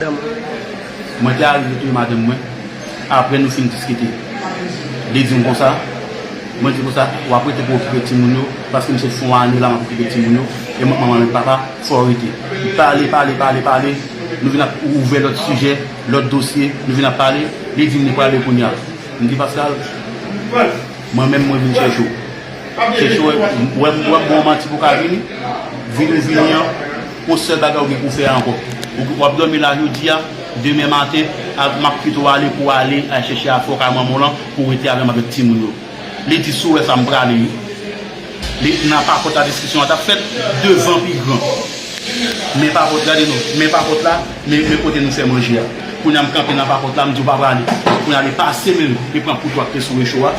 Mwen te arive touye madanm mwen apre nou fin diskite. Li di m konsa, mwen di konsa, w ap rete pou okipe timoun yo paske m se fon ane la m ap okipe timoun yo e m ak manman avèk papa fò w rete. Li pale, pale, pale, pale, nou vin ap ouvè lòt sijè, lòt dosye, nou vin ap pale, li di m li prale kounya. M di Paskal, mwen menm mwen vin chèche w. Chèche w, wè m wè m ba w manti pou w ka vini, vini w vini an. Bon sèl bagay ou gen pou fè ankò ou wap dòmi la jodia demen maten map kite w ale pou ale chèche afè kay manman w lan pou w rete avè m avèk timoun yo li di si w wè sa m prale wi li nan papòt la diskisyon an tap fèt devan pi gran men papòt gade non men papòt la men kote nou fè manje a kounya m kanpe nan papòt la m di w pa prale kounya li pase men l li pran kout wak te sou recho a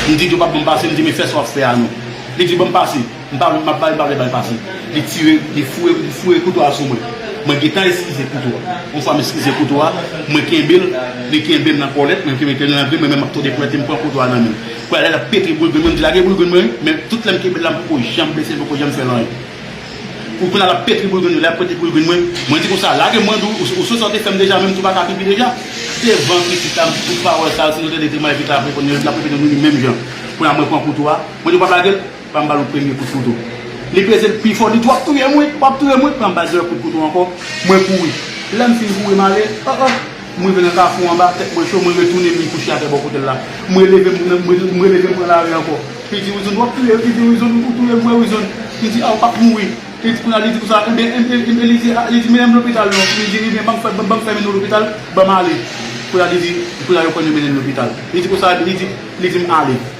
m di w pap ban m pase m di men fè sa wap fè a non li di ban m pase. M pa vle, m ap bay, m pa vle bal pase. Li tire, li fouye, li fouye kouto a sou mwen. Mwen gentan eskize kouto a. Yon fwa m eskize kouto a, mwen kenbe l, li kenbe m nan kòlèt, mwen kenbe l nan grenn mwen, men m ap tòde pwèt e m pran kouto a nan men l. Pou alè l ap pete boul grenn mwen, m di lage boul grenn mwen, men tout lè m kenbe l la m poko janm blese l, m poko janm fè l anyen. Pou kounye a l ap pete boul grenn mwen, lè l ap pete boul grenn mwen, mwen di konsa, lage m mwen di w, ou sou sa w te fè m deja menm si w pa ka pipi deja. Devan pitit la, m di tout pawòl sa yo, si nou tande Tremay vin t ap reponn, l ap reponn nou li menm jan. Kounye a mwen pran kouto a, mwen di w pa p lage l? Banm bal yon premye kout kouto. Li peze l pi fò li di wap touyem wi, wap touyem wi, banm bal dèyè kout kouto ankò, mwen kouri. Lèm fin kouri male oh oh, m rive nan kafou anba, tèt mwen cho, mwen retounen vin kouche atè bò kote l la. M releve m m releve m pran lari ankò. Li di Wilson wap touyem, li di Wilson ou touyem vre Wilson, m di a ou pap mouri. Li di kounya li di konsa enben enben li di a li di mennen m lopital non, li di ebyen banm fè banm fè mennen w lopital, banm ale. Kounya li di kounya yo konn yo mennen l lopital. Li di konsa li di li di m ale.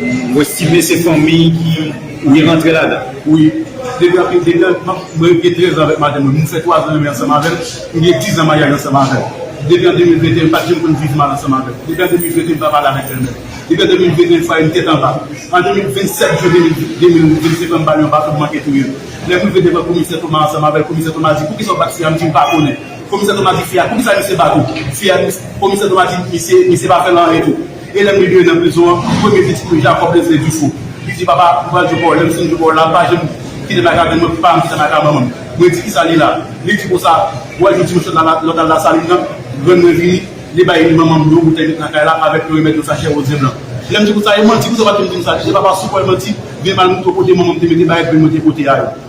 M estime se fanmi ki li rantre ladan. Wi. Depi anpil de tan, mwen gen 13 ans avèk madanm mwen. Nou fè 3 ans nou renmen ansanm avèl. Nou gen 10 ans maryaj ansanm avèl. Depi an 2021 m pat janm konn viv mal ansanm avèl. Depi an 2021 m pa pale avèk bèlmèm. Depi an 2021 m fwaye m tèt anba. An 27 juin 2025 lan m bal yon baton m manke touye l. Lè m rive devan komisè Thomas ansanm avèl, komisè Thomas di poukisa ou bat fi a m di m pa konnen. Komisè Thomas di fi a poukisa misye bat ou? Fi a di komisè Thomas di misye pa fè l anyen tou. E lèm rive nan prizon an premye pitit mwen Jacob leve di fou li di papa ou pral jwe pa w lèm fin jwe pa w la pa janm kitem ak avèl mwen pou pam kitem ak a manmanm mwen di kisa li la li di konsa wèl jodi mwen sot nan lopital lasalin nan grann mwen vini li bay li manmanm yon boutèy met nan kay la avèk yon remèd yon sachè roze blan lèm di konsa e manti poukisa w pat vin dim sa li di papa si w kwèl manti gen mal mwen te pote manmanm te mete bagay grann mwen te pote a yo.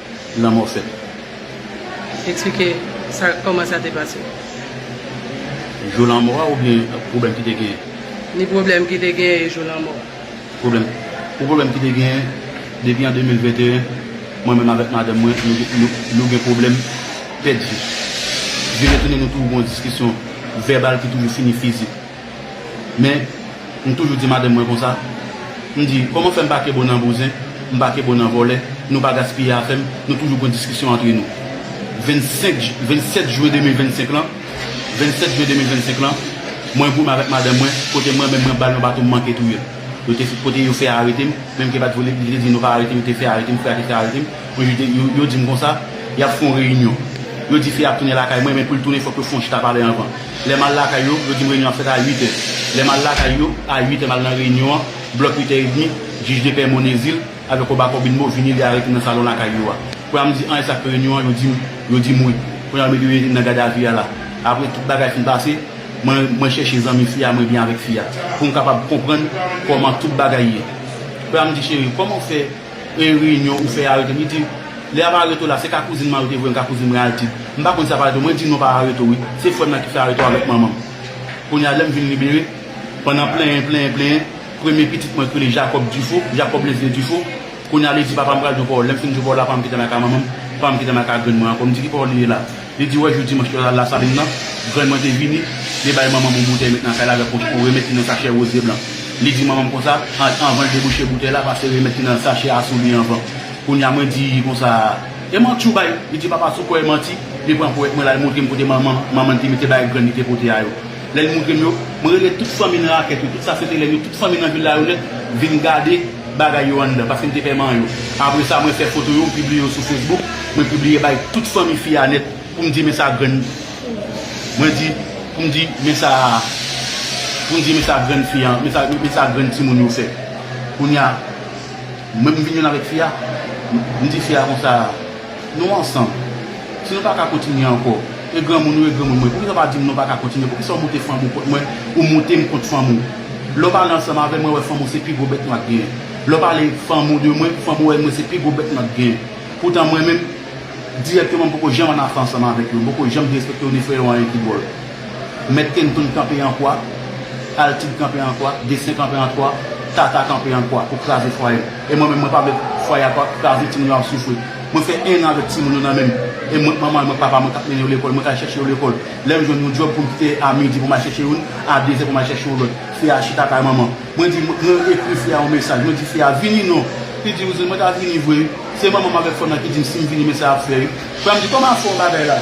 lanmò fèt. Eksplike sa kòman sa te pase. Jou lanmò a oubyen pwoblèm ki te genyen? Ni pwoblèm ki te genyen e jou lanmò a. Pwoblèm Pou pwoblèm ki te genyen, depi an 2021, mwen menm avèk madanm mwen nou gen pwoblèm pèdi. Vire tounen nou toujou gen yon diskisyon vèbal ki toujou fini fizik. Men, m toujou di madanm mwen konsa, m di, kòman fè m pa ke bon nan bouzen, m pa ke bon nan vòlè, nou pa gaspiye afè m, nou toujou pran diskisyon antre nou. 25 j, 27 jwen 2025 lan, 27 jwen 2025 lan, mwen goumen avèk madanm mwen, kote mwen menm mwen ba l yon baton m manke touye l. Yo te, kote yo fè arete m, menm ke pa t vle, li te di nou pa arete m, yo te fè arete m, frè a te fè arete m, yon jou te, yo, yo di m konsa, y ap fè yon reyinyon. Yo di fi a ap tounen lakay mwen, men pou l tounen fòk yo fè yon chita pale anvan. Lè m al lakay yo, yo di m reyinyon an ap fèt a 8 è. Lè m al lakay yo, a 8 è m al nan reyinyon an, blòk 8 è edmi, jij de pè Monezil avèk Koba Kòbinmo vini li arete m nan salon lakay yo a. Kounye a m di an esak fè reyinyon an, yo di m, yo di m wi. Kounye a yo mete yo nan gadavi a la. Apre tout bagay fin pase, mwen, mwen chèche zanmi fi a, mwen byen avèk fi a. Pou m kapab konprann kòman tout bagay ye. Kounye a m di cheri, kòman ou fè. Premye reyinyon ou fè arete li di Lè yap arete w la se ka kouzin man yo te voye m ka kouzin mwen al di M pa konn si yap arete w mwen di non pa arete w wi se frè m nan ki fè arete w avèk manman m Kounye a lè m vin libere pandan plenyen plenyen plenyen premye pitit mwen k rele Jakòb Difo Jakòb Leslie Difo Kounye a li di papa m pral di w pawòl lè m fin di w pawòl la pa m kite l ak a manman m pa m kite l ak a grann mwen ankò m di ki pawòl li ye la. Li di wè jou dimanch yo al Lasalin nan, grann mwen te vini, li bay manman m yon boutèy met nan kay la avèk yon remèd ki nan sachè woze blan. Li di manman m konsa, Ant anvan l debouche boutèy la, pase remèd ki nan sachè a sou li anvan. Kounye a mwen di konsa, E manti ou bay? Li di papa sou kò e manti, li pran powèt mwen la l montre m kote manman manman l te mete bagay grann li te pote a yo. Lè li montre m yo, mwen rele tout fanmi nan rakèt yo, tout sa se te lè yo, tout fanmi nan vil la yo nèt vin gade. bagay yo anndan paske m te pè man yo. Apre sa, mwen fè foto yo, m pibliye yo sou Facebook. Mwen pibliye bay tout fanmi fi a nèt pou m di men sa grann Mwen di pou m di men sa pou m di men sa grann fi a men sa men sa grann timoun yo fè. Kounye a, mwen m vin jwenn avèk fi a, m di fi a konsa. Nou ansanm. Si nou pa ka kontinye ankò, e granmoun ou e granmoun mwen, poukisa w pa di m nou pa ka kontinye? Poukisa w moute fanm ou kont mwen, ou moute m kont fanm ou? Lè w pale ansanm avè m, mwen wè fanm ou se pi gwo bèt nwa k genyen. Lè w pale fanm ou de mwen, fanm ou wè mwen se pi gwo bèt nwa k genyen. Poutan mwen menm, dirèkteman m poko janm annafè ansanm avèk yo, m poko janm derespekte yo ni fè yo anyen ki dwòl. Mèt Kenton kanpe an kwa, Altid kanpe an kwa, Destin kanpe an kwa, Tata kanpe an kwa pou kraze fwaye m. E mwen menm mwen pa vle fwaye a pa kraze timoun yo ap soufri. Mwen fè 1 an avèk timoun yo nan men m e mwen k manman yo mwen k papa mwen k ap mennen yo lekòl, mwen k al chèche yo lekòl. Lè m jwenn yon djòb pou m kite a midi pou m al chèche youn, a dezè pou m al chèche yon lòt. Fi a chita kay manman. Mwen di, mwen ekri fi a yon mesaj, mwen di fi a vini non. Li di, Rouzan mwen ta vini vre wi. Se manman m avèk frè m nan ki di m si m vini men sa y ap fè wi. Frè m di, kòman y ap fè yon bagay la?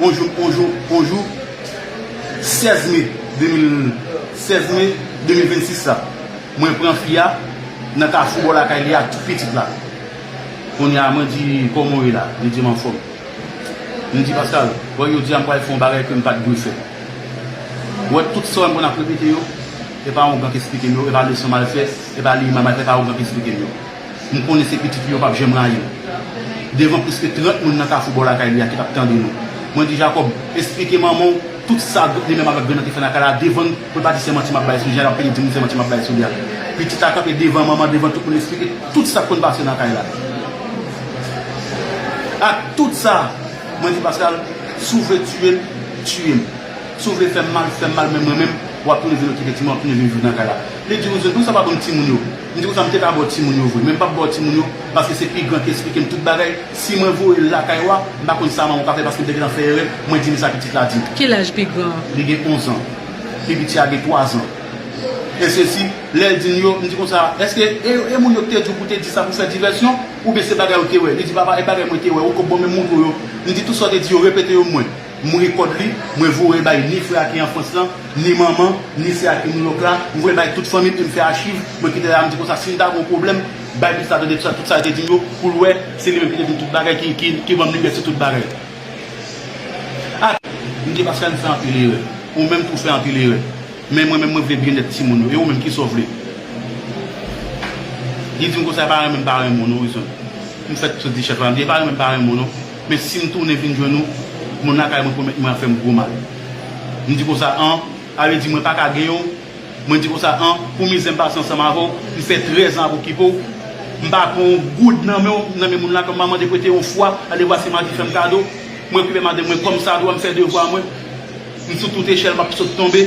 Onjou onjou onjou 16 me 2016 me 2026 la mwen pran fi a nan kafou bò lakay li ak tout pitit la kounye a mwen di kòman w ye la li di m anfòm m di Paskal wè jodi a m pral fè yon bagay ke m pat dwe fè wè tout sa w wè m konn ap repete yo e pa yon blan k esplike m yo e pa leson m al fè e pa liy m al fè e pa yon blan k esplike m yo. M konnen se pitit li yo pap janm rayi l. Devan pliske 30 moun nan kafou bò lakay li a ki t ap tande nou, mwen di Jakòb, Esplike manman w tout sa Dout li menm avèk Grann nan te fè lakay la devan n pou l pa di se manti m ap bay sou Jan l ap peye di moun se manti m ap bay sou li a. Pitit la kanpe devan manman, devan tout moun esplike tout sa k konn pase nan kay la. Ak tout sa, mwen di Paskal, Si w vle tiye m, tiye m. Si w vle fè m mal, fè m mal men mwen menm, w ap tounen vin okipe timoun, w ap tounen vin viv nan kay la. Li di Wouzou, Tou sa pa bon timoun yo. M te kontan m te ka baw timoun yo vre men m pap baw timoun yo paske se pi gran ki esplike m tout bagay si mwen voye l lakay ou a m pa konn sa manman w ka fè paske m te gentan fè erè mwen di li sa pitit la di m. Ki laj pi gran an? Li gen 11 ans. Pi piti a gen 3 ans. E sesi, lè l di m yo, m di konsa, eske e yo e moun yo k te di w pou te di sa pou fè divèsyon oubyen se bagay ou te wè? Li di papa e bagay mwen te wè ou ko bon men m moutrew yo. M di tout sa w te di yo repete yo mwen. M voye kòd li, mwen voye bay ni frè a ki an Frans lan, ni manman, ni sè a ki New York la, m voye bay tout fanmi m e m fè achiv, mwen kite la, m di konsa si m ta gen yon pwoblèm, bay pitit la tande tout sa li te di m yo pou l wè se li menm ki te di m tout bagay, ki ban m limyè sou tout bagay. Ak. M di Pascale m fè anpil erè, ou menm tou w fè anpil erè, men mwen menm mwen vle byennèt timoun yo, e ou menm kisa w vle? Li di m konsa e pa renmen m pa renmen w non Wilson, m fèt sot di chèf la, m di e pa renmen m pa renmen w non. Men si m tounen vin jwenn ou, moun lakay mwen pwomèt mwen ap fè m gwo mal. M di konsa, an, ale di mwen pa ka gen ou, mwen di konsa, an, pou mizè m pase ansanm avè w, m fè trèz an ap okipe w, m pa pran yon goud nan men w, nan men moun lakay mwen, m pa mande prete yon fwa, ale vwa si m a di fè m kado, mwen okipe madanm mwen kòmsadwa, m fè devwa mwen, m sou tout echèl m ap sot tonbe.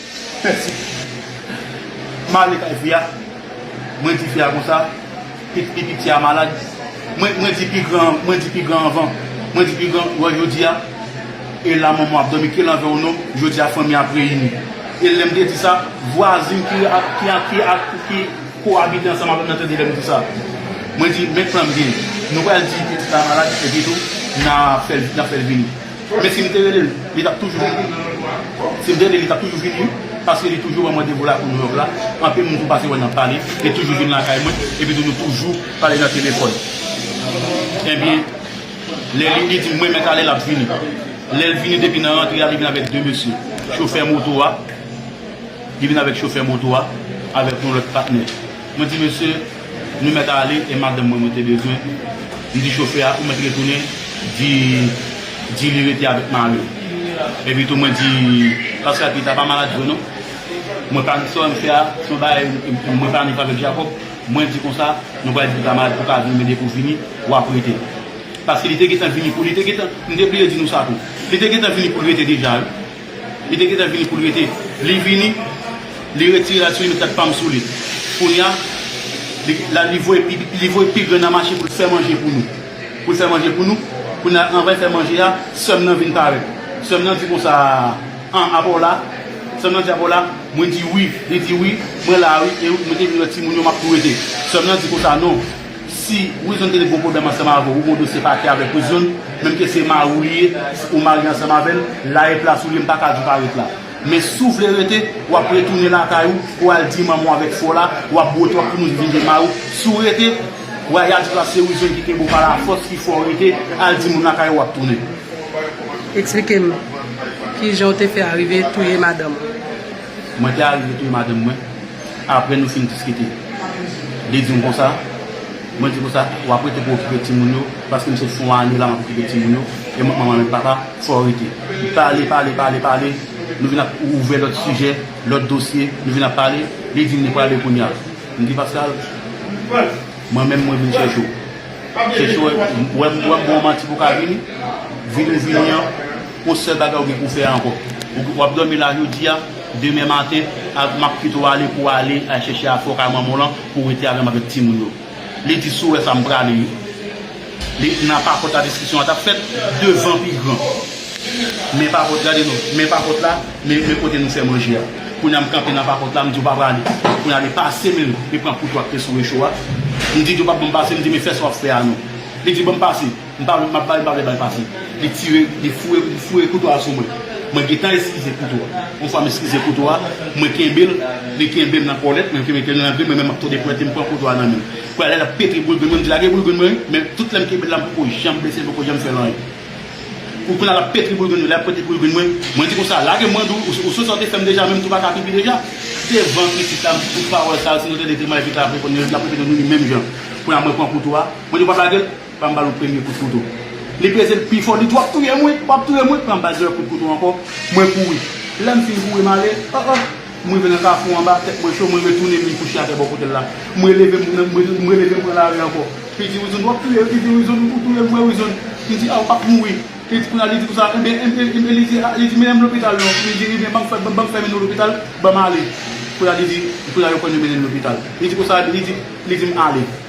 Pèsi. M ale kay fi a, mwen di fi a konsa, pi piti a malad, mwen di pi gran an, mwen di pi gran anvan, mwen di pi gran, wè jodi a, e la manman ap dòmi, ki lanvè ou non, jodi a fanmi a ap reyini. E lè m te di sa, vwazin ki ki kowabite ansanm avè m nan tande lè m di sa. Mwen di, men plan m genyen. Nou pral di pitit la malad, epitou n ap fè l vini. Men si m te rele l, li t ap toujou vini. Si m te rele l, li t ap toujou vini wi, paske li toujou wè mwen depo lakou Nouyòk la. Anpil moun tou pase wè n ap pale, li toujou vin lakay mwen. Epitou nou toujou pale nan telefòn. Ebyen, lè li di m mwen mèt ale, l ap vini. Lè l vini depi nan rantre a, li vin avèk de mesye. Chofè moto a, li vin avèk chofè moto a, avèk yon lòt patnè. Mwen di mesye, nou mèt ale e madanm mwen mwen te bezwen. M di chofè a ou mèt retounen di di li rete avèk mari w. Epitou mwen di Paska Pita pa malad vre non. Mwen pa sa w al fè a se yon bagay mwen planifye avèk Jakòb. Mwen di konsa nou pral di Pita malad pou w ka vini men depi w vini w ap rete. Paske li te gentan vini pou li te gentan m te bliye di nou sa tou. Li te gentan vini pou l rete deja wi. Li te gentan vini pou l rete. Li vini, li retire la soulinet ak pam sou li. Kounya, li la li voye pi li voye pi gran nan mache pou l fè manje pou nou. Pou l fè manje pou nou. Kounya, anvan l fè manje a, sè m nan vin parèt. Sè m nan di konsa, An, apa w la? Sè m nan di, Apa w la? Mwen di, Wi. Li di, Wi, mwen la a wi. E mwen te vin wè timoun yo m ap tou rete. Sè m nan di konsa, Non. Si Wilson te gen gwo pwoblèm ansanm avè w, ou gon dosye pakè avèk Wilson, menm ke se mari w li ye, ou marye ansanm avè l, la e plas ou li, m pa ka di w pa ret la. Men si w vle rete, w ap retounen lakay ou, ou al di manman w avèk frè w la, w ap bwote, w ap tounen vin gen mari w. Si w rete, w a y a di w la se Wilson ki kenbe w pa lafòs ki fè w rete, al di moun lakay ou w ap tounen. Eksplike m, kijan w te fè arive touye madanm ou? Mwen te arive touye madanm mwen. Apre nou fin diskite, li di m konsa, mwen di konsa, w ap rete pou okipe timoun yo paske m se fon ane la m ap okipe timoun yo e m ak manman menm papa, fò w rete. Li pale, pale, pale, pale, nou vin ap ouvè lòt sijè, lòt dosye, nou vin ap pale, li di m li prale kounya. M di Paskal, mwen menm mwen vin chèche w. Chèche w, wè m wè m bon manti pou w ka vini, vini w vini an. Post sèl bagay ou gen pou fè ankò. Ou wap dòmi la jodi a, demen maten map kite w ale pou w ale chèche afè w kay manman w lan pou w rete avè m avèk timoun yo. Li di si w wè sa m prale wi. Li nan papòt la diskisyon an tap fèt devan pi gran. Men papòt gade non, men papòt la, men kote nou fè manje a. Kounye a m kanpe nan papòt la m di w pa prale. Kounye a li pase men l, li pran kouto ak te sou recho a. M di di w pap ban m pase, m di men fè sa wap fè a non. Li di ban m pase. M pa vle, m ap bay bal, bal pase. Li tire, li fouye, li fouye kouto a sou mwen. Mwen gentan eskize kouto a. Yon fwa m eskize kouto a, mwen kenbe l, li kenbe m nan kòlèt, mwen kenbe l nan grenn, mwen menm m ap tòde pwente, m pran kouto a nan men l. Kounya la, l ap pete boul grenn mwen, m di lage boul grenn mwen, men tout lè m kenbe l la, m poko janm blese l, m poko janm fè l anyen. Ou kounya l ap pete boul grenn mwen, lè l ap pete boul grenn mwen, mwen di konsa, lage m mwen di w, ou sonje sa w te fè m deja menm tou pa ka pipi deja? Devan pitit la, m di tout pawòl sa yo, si nou tande Tremay vin klape kòn li, l ap repete nou ni menm jan. Kounya mwen pran kouto a, mwen di w pa p lage l? Banm bal yon premye kout kouto. Li peze l pi fò li di wap touyem wi, wap touyem wi, banm bal dezyèm kout kouto ankò, mwen kouri. Lèm fin kouri male, oh oh, m rive nan kafou anba, tèt mwen cho, mwen retounen vin kouche atè bò kotel la. M releve m m releve m pran lari ankò. Li di Wilson wap touyem, li di Wilson ou touyem vre Wilson, m di ah ou pap mouri. Li di kounya li di konsa enben enben li di ah li di mennen m lopital non, li di enben banm fè banm fè mennen w lopital, banm ale. Kounya li di kounya yo konn yo mennen l lopital. Li di konsa li di li di m ale.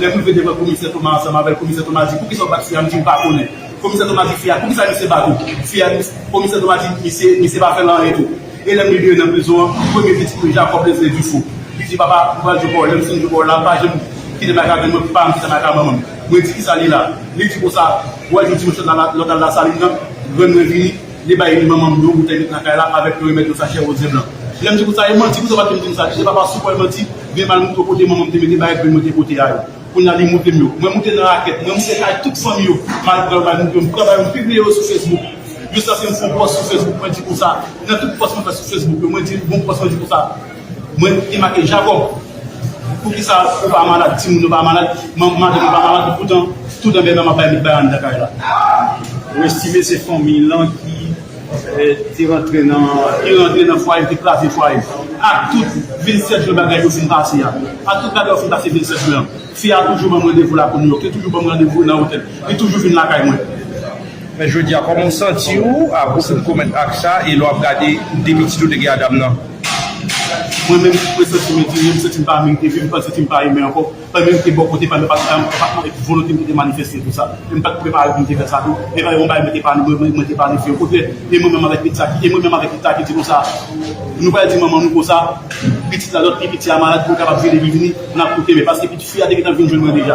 Lè pou l vin devan komisè Toma ansanm avè l, komisè Toma di, Poukisa w bat fi a? M di, M pa konnen. Komisè Toma di fi a, Poukisa misye bat ou? Fi a di, Komisè Toma di, Misye, misye pa fè l anyen tou. E lè m libere nan prizon an, premye pitit mwen Jakòb leve di fou. Li di, Papa, m pral jwe pa w. Lè m fin jwe pa w la, pa janm kite m ak avè m nan, pa m kite m ak avan m. Mwen di, Kisa li la? Li di, Konsa, w al jwenn ti mesye nan lòtal Lasalin nan, grann mwen vini, li bay li manman m yon boutèy met nan kay la avèk yon remèd yon sachè roze blan. Lè m di, Konsa, e manti? Poukisa w pa di m di m sa? Li di, E papa, sou kò e manti? Byen mal mwen t wè kote manmanm te mete bagay grenn mwen te pote a yo kounya li moutem yo mwen moute nan rakèt mwen moute kay tout fanmi yo mal pranl bay moun yo m pran bay yo m pibliye yo sou fesbouk jis aske m fè yon pòs sou fesbouk mwen di konsa nan tout pòs mwen fè sou fesbouk yo mwen di yon pòs mwen di konsa mwen te make Jacob poukisa ou pa malad timoun yo pa malad manman madanm yo pa malad poutan tout anbè manman bay met bay anndan kay la. Ou estime se fanmiy lan ki. Ti rantre nan Ti rantre nan fwaye l te kraze fwaye l ak tout vil Sèt Jwen bagay yo fin pase a ak tout bagay yo fin pase vil Sèt Jwen an Fi a toujou ban m randevou lakou Nouyòk Li toujou ban m randevou nan otèl Li toujou vin lakay mwen. Men jodi a kòman w santi w apre w fin komèt ak sa e lè w ap gade de pitit ou te gen a dam nan? Mwen menm, mwen santi m etire, m santi m pa merite vi, m panse si m pa imen ankò. Mwen menm te bò kote pa m yo pa t bay anpil enpòtans epi volonte m te te manifeste pou sa e m pa t prepare pou m te fè sa tou e pa yon bagay mwen te pa mwen menm mwen te pa annik fè o kontrè e mwen menm avèk pitit sa ki e mwen menm avèk pitit sa ki di konsa nou pral di manman nou konsa pitit la lòt pi piti a malad pou l kapab vini li vini n ap koute men paske pitit fi a te gentan vin jwenn mwen deja.